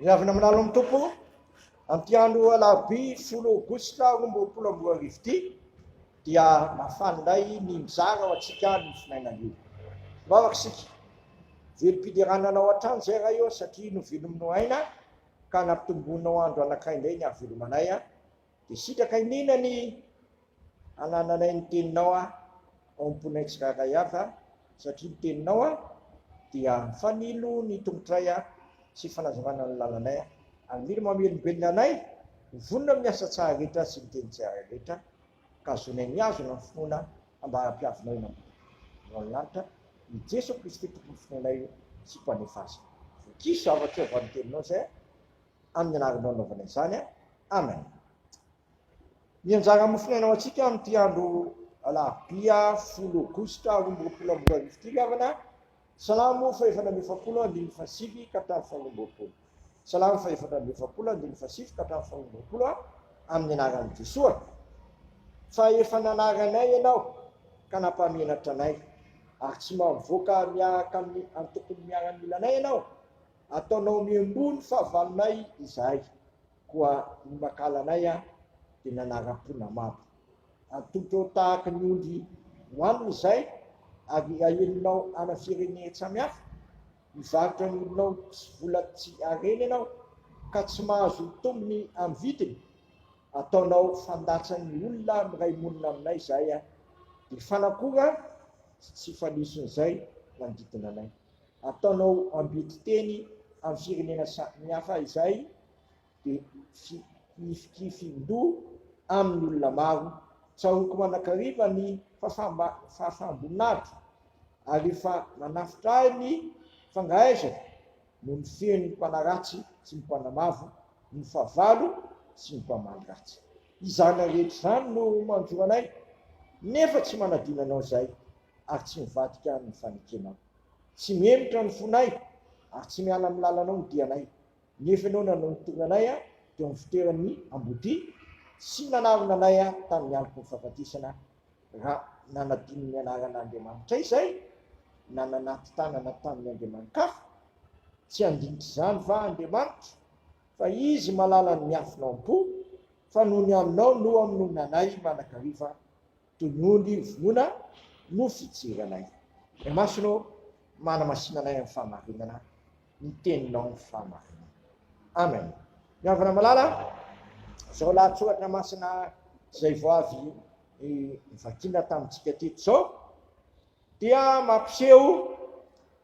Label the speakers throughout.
Speaker 1: Ry havana manalo amin'ny Tompo, amin'ity andro alarobia folo aogositra roa amby roapolo amby roa arivo ity dia mafana indray ny mizara ho antsika ny finainana io. Vavaka isika. Velom-piderana anao hatrany izay Ray ô satria novelominao aina ka nampitomboinao andro anankiray indray ny hahavelomanay Dia sitraka iniana ny hanananay ny teninao aho ao am-ponay tsirairay avy aho, satria ny teninao aho dia fanilo ny tongotray aho sy fanazavana ny lalanay aho. Ary mila mamelombelona anay ho vonona amin'ny asa tsara rehetra sy ny teny tsara rehetra, ka azonay mihazona ny finoana ambara-piavinao eny ambony eo amin'ny lanitra, i Jeso Kristy Tompon'ny finoanay sy Mpanefa azy. Vokiso, havatrao avy amin'ny teninao izay aho. Amin'ny anaranao nanaovana izany aho. Amen. Ny anjara mofonaina ho antsika amin'ity andro alarobia folo aogositra roa amby roapolo amby roa arivo ity ry havana, Salamo fahefatra amby efapolo andininy fahasivy ka hatramin'ny faharoa amby roapolo. Salamo fahefatra amby efapolo andininy fahasivy ka hatramin'ny faharoa amby roapolo a, Amin'ny anaran'i Jesoa, fa efa nanary anay Ianao ka nampamenatra anay, ary tsy maha-mivoaka miaraka amin'ny antokony miaramila anay Ianao, Ataonao miemboha ny fahavalonay izahay, koa ny makalanay dia nanara-po namabo. Atolotrao tahaka ny ondry ho hanina izahay, ary ahelinao ana firenen tsamihafa. Mivarotra ny olonao sy vola tsy harena ianao, ka tsy mahazo tombony amin'ny vidiny. Ataonao fandatsan'ny olona miray monina aminay izahay, dia fanakora sy tsy fanison'izay manodidina anay. ataonao ambitoteny amin'ny firenena samihafa izay dia fihifikifindoha amin'ny olona maro, tsaroako manakariva ny fahafaham-boninahitro ary efa manafotra ahy ny fangahaizako no mifehy ny mpanaratsy sy ny mpanamavo, ny fahavalo sy ny mpamaly ratsy. Izany rehetra izany no manjora anay nefa tsy manadino anao izay. ary tsy mivadika amin'ny fanekenao. Tsy mihemotra ny fonay, ary tsy miala amin'ny lalanao ny dianay. Nefa Ianao no nanao ny tonanay teo amin'ny fitoeran'ny ambodia, sy nanarona anay tamin'ny andron'ny fahafatesana, raha nanadino ny anaran'Andriamanitray izay, na nanaty tanana tamin'ny andriamani-kafa. Tsy handinitr'izany va Andriamanitro? Fa izy malala ny miafina ao am-po, fa noho ny anao no amonoanay mandrakariva, Dia noho ny vonoana no fijeranay. Ny masony ô, manamasinanay amin'ny fahamarinana ny teninao ny fahamarinana. Amen. Ny havana malala a! Izao lahatsoratra masina izay vao avy novakiana tamintsika teto izao dia mampiseho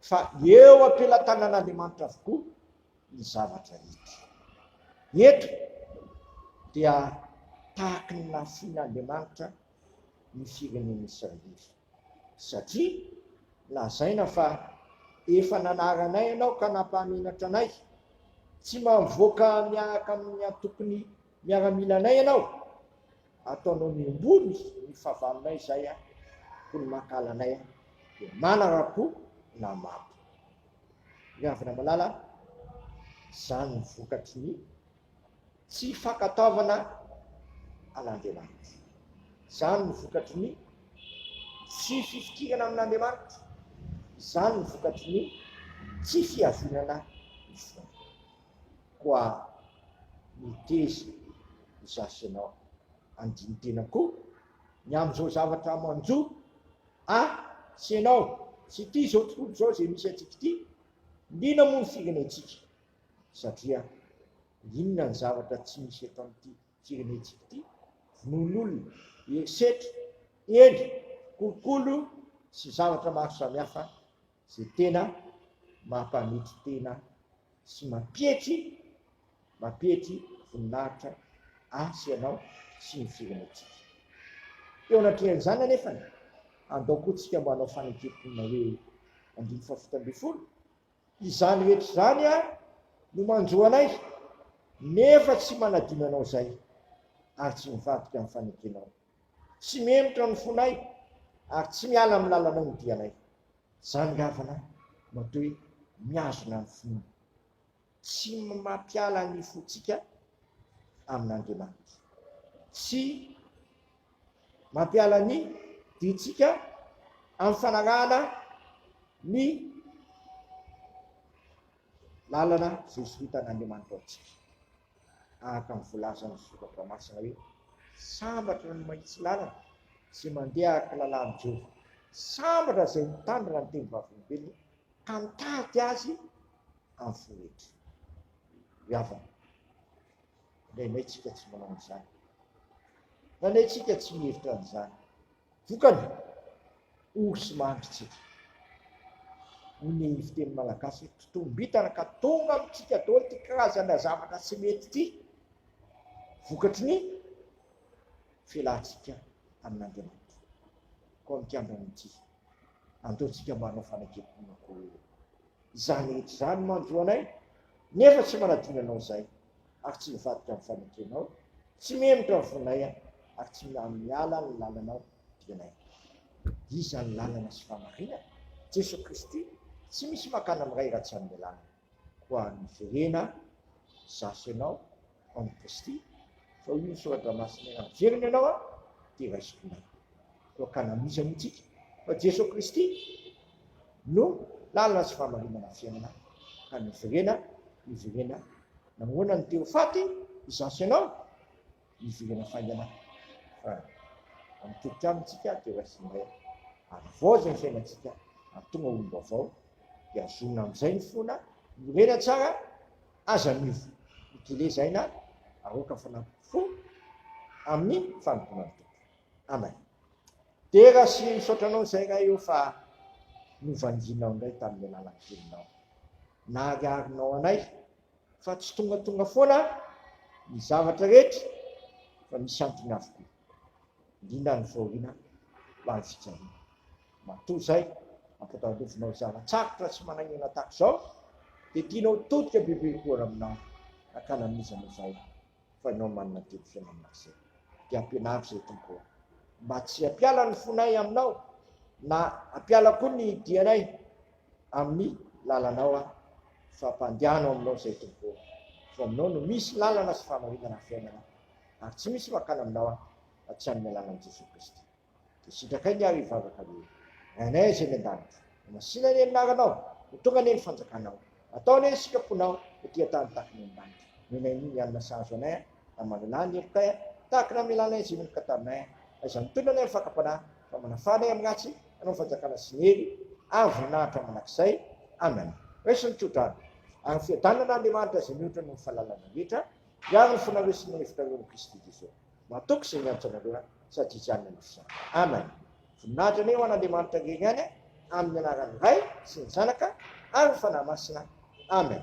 Speaker 1: fa eo am-pelatanan'Andriamanitra avokoa. ny zavatra hita. Eto dia tahaky ny nahafoin'Andriamanitra ny firenen'i Israely, satria lazaina fa efa nanary anay ianao ka nampahamenatra anay, tsy mavoaka miaraka amin'ny antokon'ny miaramilanay ianao, ataonao miombony ny fahavalonay izay, hoy ny mankahala anay, dia manarakoa na mabo. Ry havana malala a! Izany no vokatry ny tsy fankatoavana an'Andriamanitra. Izany no vokatry ny tsy fifikirana amin'Andriamanitra. Izany no vokatry ny tsy fiavinana ny fonao. Koa miteza ny zafianao handini-tena koa ny amin'izao zavatra manjo A, tsy ianao, tsy ity izao tontolo izao izay misy antsika ity, liana moa ny firenentsika, satria inona ny zavatra tsy misy eto amin'ity firenentsika ity, vonoan'olona, herisetra, eny, kolikoly sy zavatra maro samihafa Izay tena mampanetry tena sy mampietry mampietry voninahitra ahy sy ianao sy ny firenentsika. Eo anatrehan'izany anefa, andao koa tsika mba hanao fanekem-ponina hoe andininy fahafito ambin'ny folo, Izany rehetra izany ary no manjo anay, nefa tsy manadino anao izay ary tsy mivadika amin'ny fanekenao. Tsy mihemotra ny fonay ary tsy miala amin'ny lalanao ny dianay. Izany nga vana no atao hoe mihazona ny finoana? Tsy mampiala ny fontsika amin'Andriamanitra. Tsy mampiala ny dintsika amin'ny fanarahana ny lalana voazorontan'Andriamanitra ho antsika. Tahaka ny volazan'ny Soratra Masina hoe, Sambatra ny mahitsy lalana sy mandeha araka ny lalàn'i Jehovah. Sambatra izay mitandrina ny teny vavolombelony ka mitady azy amin'ny fo rehetra. Ry havana, indraindray isika tsy manao an'izany. Indraindray isika tsy mihevitra an'izany. Vokany, ory sy mandry isika. Hoy ny fiteny malagasy, totombintana ka tonga amintsika daholo ity karazana zavatra tsy mety ity, vokatry ny fialantsika amin'Andriamanitra. Koa mikambana amin'ity, andeontsika manao fanekempon'akoho. Izany rehetra izany manjo anay, nefa tsy manadino anao izay. ary tsy mivadika ny fanekenao, tsy mihemotra ny fonay aho, ary tsy miala ny lalanao dianay. Iza ny lalana sy fahamarinana? Jeso Kristy, tsy misy makana amin'ny Ray raha tsy amin'ny alalany. Koa niverena izaho sy ianao ao amin'i Kristy, fa hoy ny soratra masina raha miverina ianao aho dia raisiko indray. Koa ka nanohizany antsika fa Jeso Kristy, no lalana sy fahamarinana fiainana ka miverena miverena namoana ny te ho faty izaho sy ianao miverena faingana fa amitetika amintsika te ho raisinay ary voaja ny fiainantsika ary tonga olom-baovao dia azonina amin'izay ny fona morena tsara aza miova mitelezaina aroaka fanampo fo amin'ny fanompoana ny tompo Amen. Dera sy misaotra anao izay Ray o fa novangianao indray tamin'ny alalan'ny Teninao. Nahariharinao anay fa tsy tongatonga foana ny zavatra rehetra fa misy antony avokoa. Indrindra ny fahoriana ho an'ny fijaliana. Matoa izay, ampitandrovinao zava-tsarotra sy manaingoana tahaka izao dia tianao todika bebe koa aminao hakana amin'iza moa izay fa ianao manana didy fiainana izay dia ampianaro izay Tompo ô mba tsy hampiala ny fonay aminao na hampiala koa ny dianay amin'ny lalanao aho fa mpandiano aminao izay Tompo ô fa aminao no misy lalana sy famarinana fiainana ary tsy misy makana aminao aho fa tsy amin'ny alalan'i Jesoa Kristy Dia sitrakay ny ahy hivavaka hoe, Rainay izay any an-danitra, ho masina anie ny anaranao, ho tonga anie ny fanjakanao, atao anie ny sitraponao ety an-tany tahaka ny any an-danitra. Nomenay ny hanina sahaza anay aho, na manana ahy ny herikay aho, tahaka ny hamelanay izay meloka taminay aho. Aiza ny tohina anay amin'ny fakam-panahy, fa manafà anay amin'ny ratsy, hanao ny fanjakana sy ny hery ary voninahitra mandrakizay. Amen. Raiso ny tso-drano, ary fiadanana Andriamanitra izay mihoatra noho ny fahalalana rehetra, hiaro ny fonareo sy ny hevitrareo amin'i Kristy Jesoa. Nataoko izay niantso anareo aho, sady izy ihany nanoro izany. Amen. Voninahitra anie ho an'Andriamanitra irery ihany, amin'ny anaran'ny Ray sy ny Zanaka ary ny Fanahy Masina. Amen.